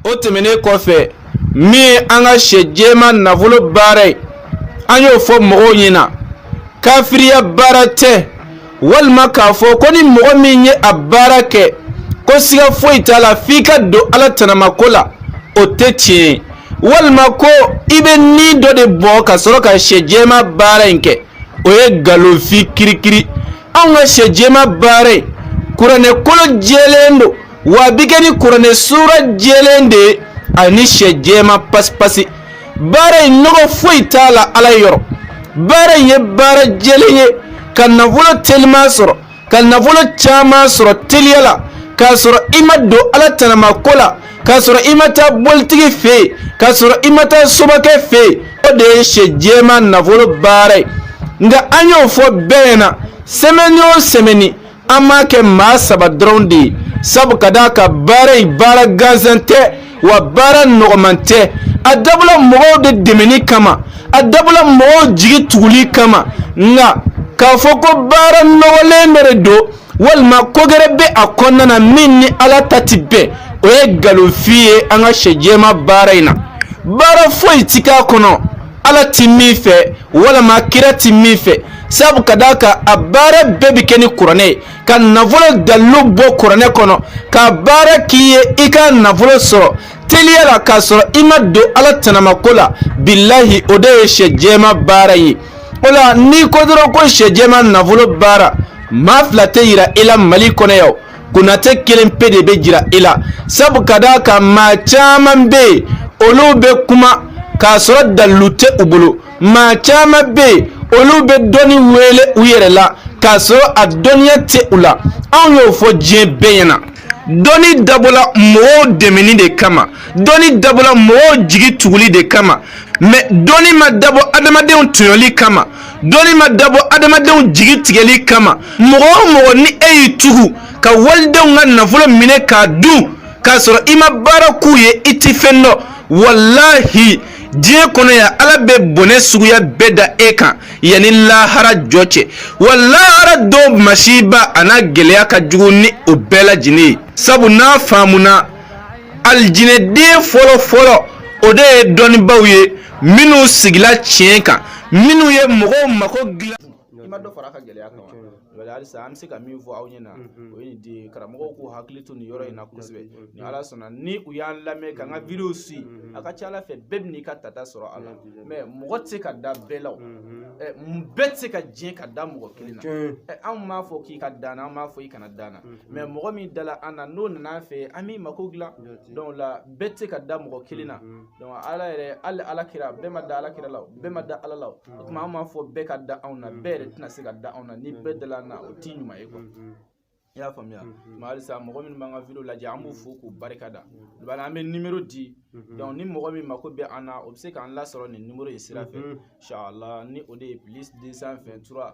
o tɛmɛnen kɔfɛ min ye an ka sɛ jɛma nafolo baara ye an y'o fɔ mɔgɔw ɲɛna kafiriya baara tɛ walima k'a fɔ ko ni mɔgɔ min ye a baara kɛ ko siga foyi t'a la f'i ka don ala tanamako la o tɛ tiɲɛ ye walima ko i bɛ ni dɔ de bɔ ka sɔrɔ ka sɛ jɛma baara in kɛ o ye nkalonfin kirikiri anw ka sɛ jɛma baara in kuranɛ kolo jɛlen don wa a bɛ kɛ ni kuranɛ sura jɛlen de ye ani sɛ jɛman pasipasi baara in nɔgɔ foyi t'a la ala yɔrɔ baara in ye baara jɛlen ye ka nafolo teliman sɔrɔ ka nafolo caman sɔrɔ teliya la k'a sɔrɔ i ma don ala tanamako la k'a sɔrɔ i ma taa bolitigi fɛ yen k'a sɔrɔ i ma taa sobakɛ fɛ yen o de ye sɛ jɛman nafolo baara ye nka an y'o fɔ bɛɛ ɲɛna sɛmɛni o sɛmɛni an b'a kɛ maa saba dɔrɔn de ye sabu ka d'a kan baara in baara gansan tɛ wa baara nɔgɔman tɛ a dabɔla mɔgɔw de dɛmɛni kama a dabɔla mɔgɔw jigi tuguli kama nka k'a fɔ ko baara nɔgɔlen dɔ de don walima ko gɛrɛ bɛ a kɔnɔna na min ni ala ta tɛ bɛn o ye nkalonfin ye an ka sɛ jɛma baara in na baara foyi ti k'a kɔnɔ ala ti min fɛ walima kira ti min fɛ sabu ka d'a kan a baara bɛɛ bɛ kɛ ni kuranɛ ye ka nafolo dalilu bɔ kuranɛ kɔnɔ ka baara k'i ye i ka nafolo sɔrɔ teliya la k'a sɔrɔ i ma don ala tanamako la bilahi o de ye sɛ jɛma baara ye o la n'i ko dɔrɔn ko sɛ jɛma nafolo baara maa fila tɛ yira i la mali kɔnɔ yan konatɛ kelen pe de bɛ jira e la sabu ka d'a kan maa caman bɛ yen olu bɛ kuma k'a sɔrɔ dalilu tɛ u bolo maa caman bɛ yen olu bɛ dɔnni wele u yɛrɛ la k'a sɔrɔ a dɔnniya tɛ u la anw y'o fɔ diɲɛ bɛɛ ɲɛna dɔnni dabɔla mɔgɔw dɛmɛni de kama dɔnni dabɔla mɔgɔw jigi tuguli de kama mɛ dɔnni ma dabɔ adamadenw tɔɲɔli kama dɔnni ma dabɔ adamadenw jigi tigɛli kama mɔgɔ o mɔgɔ ni e y'i tugu ka walidenw ka nafolo minɛ k'a dun k'a sɔrɔ i ma baara k'u ye i ti fɛn dɔn walahi diɲɛ kɔnɔ yan ala bɛ bɔnɛ suguya bɛɛ da e kan yanni lahara jɔ cɛ wa lahara don masiba an'a gɛlɛya ka jugu ni o bɛɛ lajɛlen ye sabu n'a faamuna alijinɛden fɔlɔ fɔlɔ o de ye dɔnnibaaw ye minnu sigila tiɲɛ kan minnu ye mɔgɔw mako dilan i ma dɔ fara a ka gɛlɛya kan wa halisa an bɛ se ka min fɔ aw ɲɛna o ye nin de ye karamɔgɔw k'u hakili to nin yɔrɔ in na kosɛbɛ ni ala sɔnna ni u y'an lamɛn k'an ka videow siya ka ca ala fɛ bɛɛ bɛ n'i ka tata sɔrɔ a la mais mɔgɔ tɛ se ka da bɛɛ la o bɛɛ tɛ se ka diɲɛ ka da mɔgɔ kelen na anw m'a fɔ k'i ka da an na an m'a fɔ i kana da an na mais mɔgɔ min dala an na n'o nana an fɛ an b'i mako dilan donc là bɛɛ tɛ se ka da mɔgɔ kelen na donc ala yɛrɛ hali ala kira bɛɛ ma da ala kira la bɛɛ ma da ala la o tuma an m'a fɔ bɛɛ ka da anw na bɛɛ yɛrɛ tɛna se ka da anw na ni bɛɛ dala an na o t'i ɲuman ye quoi i y'a faamuya mais halisa mɔgɔ minnu b'an ka video lajɛ an b'u fo k'u barika da bon là an bɛ nimero di donc ni mɔgɔ min mako bɛ an na o bɛ se k'an lasɔrɔ nin nimero in sira fɛ inshallah ni o de ye plus 223